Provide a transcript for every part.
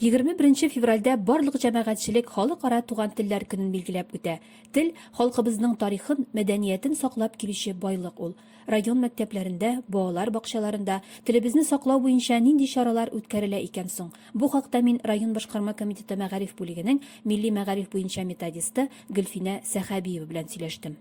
21 февральдә барлык җәмәгатьчелек халыкара туган телләр көнен билгеләп үтә. Тел халкыбызның тарихын, мәдәниятен саклап килүче байлык ул. Район мәктәпләрендә, балалар бакчаларында телебезне саклау буенча нинди чаралар үткәрелә икән соң? Бу хакта мин район башкарма комитеты мәгариф бүлегенең милли мәгариф буенча методисты Гөлфинә Сәхәбиева белән сөйләштем.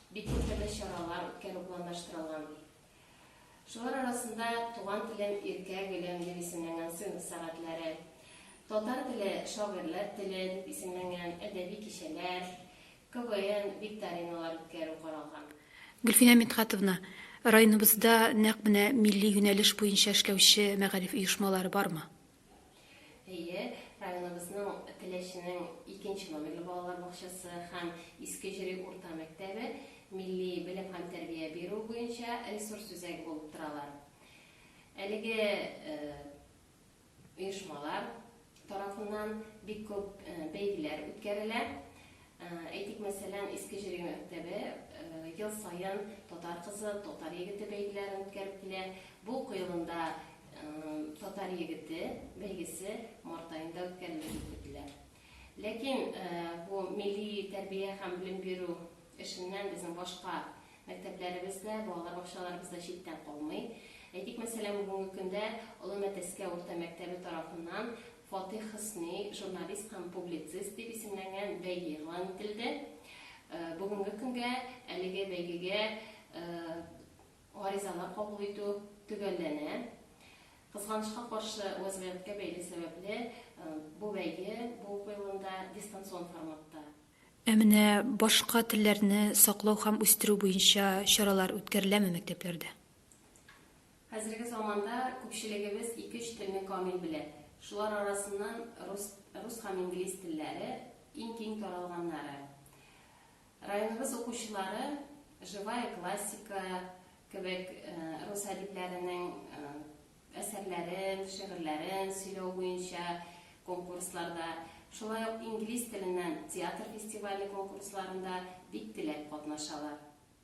Бик төрле чаралар үткәрү планлаштырылган. Шулар арасында Туган телем, иркә гөлем дип исемләнгән сыйныф сәгатьләре, Татар теле, шагыйрьләр теле дип исемләнгән әдәби кичәләр, КВН, викториналар үткәрү каралган. Гөлфинә Мидхәтовна, районыбызда нәкъ менә милли юнәлеш буенча эшләүче мәгариф оешмалары бармы? Әйе, районыбызның Теләченең икенче номерлы балалар бакчасы һәм Иске Җөри урта мәктәбе милли белем һәм тәрбия бирү буенча ресурс үзәге булып торалар. Әлеге оешмалар тарафыннан бик күп бәйгеләр үткәрелә. Әйтик, мәсәлән, Иске Җиргә мәктәбе ел саен Татар кызы, Татар егете бәйгеләрен үткәреп килә. Бу кыелында Татар егете бәйгесе март аенда үткәрелер дип көтелә. Ләкин бу милли тәрбия һәм белем бирү эшеннән безнең башка мәктәпләребез дә, балалар бакчаларыбыз да читтән калмый. Әйтик, мәсәлән, бүгенге көндә Олы Мәтәскә урта мәктәбе тарафыннан Фатих Хөсни журналист һәм публицист дип исемләнгән бәйге игълан ителде. Бүгенге көнгә әлеге бәйгегә гаризалар кабул итү төгәлләнә. Кызганычка каршы, вәзгыятькә бәйле сәбәпле, бу бәйге бу уку елында дистанцион форматта. Ә менә башка телләрне саклау һәм үстерү буенча чаралар үткәреләме мәктәпләрдә? Хәзерге заманда күпчелегебез ике-өч телне камил белә. Шулар арасыннан рус рус һәм инглиз телләре, иң киң таралганнары. Районыбыз укучылары Живая классика кебек рус әдипләренең әсәрләрен, шигырьләрен сөйләү буенча конкурсларда, шулай ук инглиз теленнән театр фестивале конкурсларында бик теләп катнашалар.